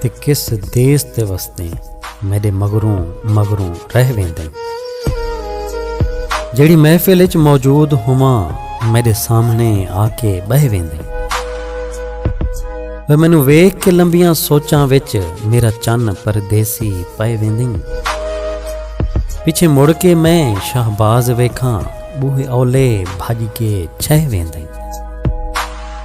تے کس دیس تے وسدیں میڈے مگروں مگروں رہ ویندیں جیڑی محفل اچ موجود ہوواں میڈے سامنے آ کے بہ ویندیں وہ مینوں ویکھ کے لمبیاں سوچاں وچ میرا چن پردیسی پے ویندیں پیچھے مڑ کے میں شہباز ویکھاں بوہے اولے بھج کے چھہ ویندیں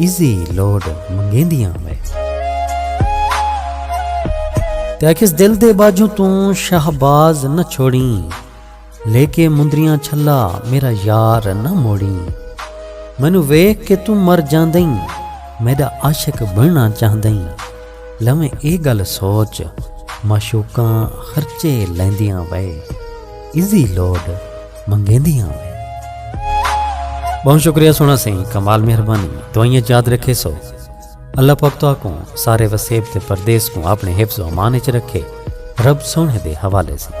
ایزی لوڈ منگیندیاں وے۔ تے آکھیس دل دے باجوں توں شہباز نہ چھوڑیں لے کے مندریاں چھلا میرا یار نہ موڑیں مینوں ویکھ کے توں مر جاندیں میڈا عاشق بننا چاہندیں لویں اے گل سوچ معشوقاں خرچے لیندیاں وے ایزی لوڈ منگیندی ہاں بہت شکریہ سونا سائیں کمال مہربانی دوائیاں یاد رکھے سو اللہ پاک تو کو سارے وسیب تے پردیس کو اپنے حفظ و امان وچ رکھے رب سونے دے حوالے سے